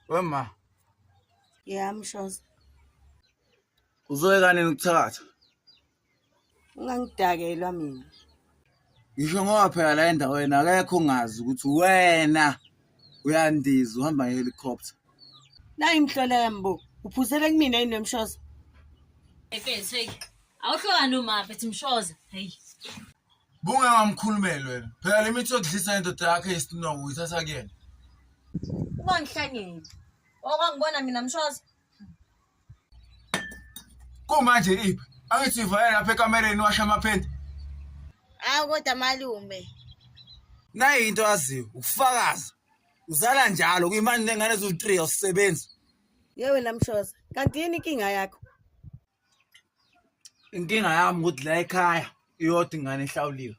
Wema. Yeah, mshoza. Uzoyeka nini ukuthakatha? Ungangidakelwa mina. Ngisho ngoba phela la endaweni akekho ongazi ukuthi wena uyandiza uhamba ngehelicopter. Nayi mhlola yami bo. Uphuzele kumina yini nomshoza? Hey, hey. Awuhlokani umaphi ethi mshoza? Hey. Bungengamkhulumeli wena. Phela le mithi yokudlisa indoda yakhe yesinongo uyithatha kuyena. Ubangihlanyela. Okwangibona mina mshoza. Kumanje iphi? Angithi ivale lapha ekamereni washa amaphenti. Awu kodwa malume. Nayi into aziyo ukufakaza. Uzala njalo kuyimani nengane eziwu-3 awusebenzi. Yewe namshoza. Kanti yini inkinga yakho? inkinga yami ukuthi la ekhaya iyodwa ingane ehlawuliwe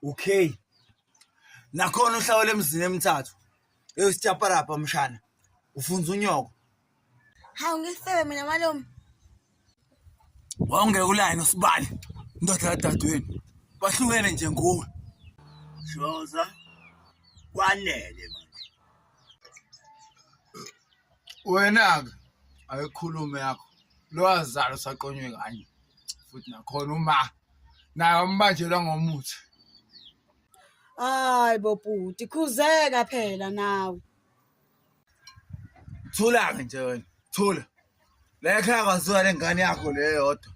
okay nakhona uhlawule emzini emithathu eyosityaparabha mshana ufunza unyoko hawu ngisebe mina malume wawungeke ulayini usibali indoda yadadewenu bahlukene nje nguwe shoza kwanele manje wena-ke ayikhulume yakho lo wazalo saqonywe kanye futhi nakhona uma naye wambanjelwa ngomuthi hayi bobhuti khuzeka phela nawe thula-ke nje wena thula le khaya kwaziwa le ngane yakho le yodwa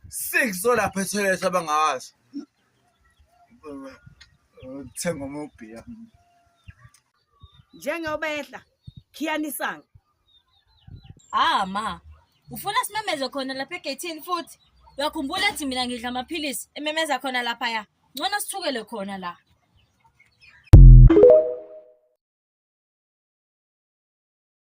six olapha ethoyilethi abangawazi thenga umubhiya njengoba ehla khiyanisanga ah ma ufuna simemeze khona lapha egethini futhi uyakhumbula ethi mina ngidla amaphilisi ememeza khona laphaya ngcono sithukele khona la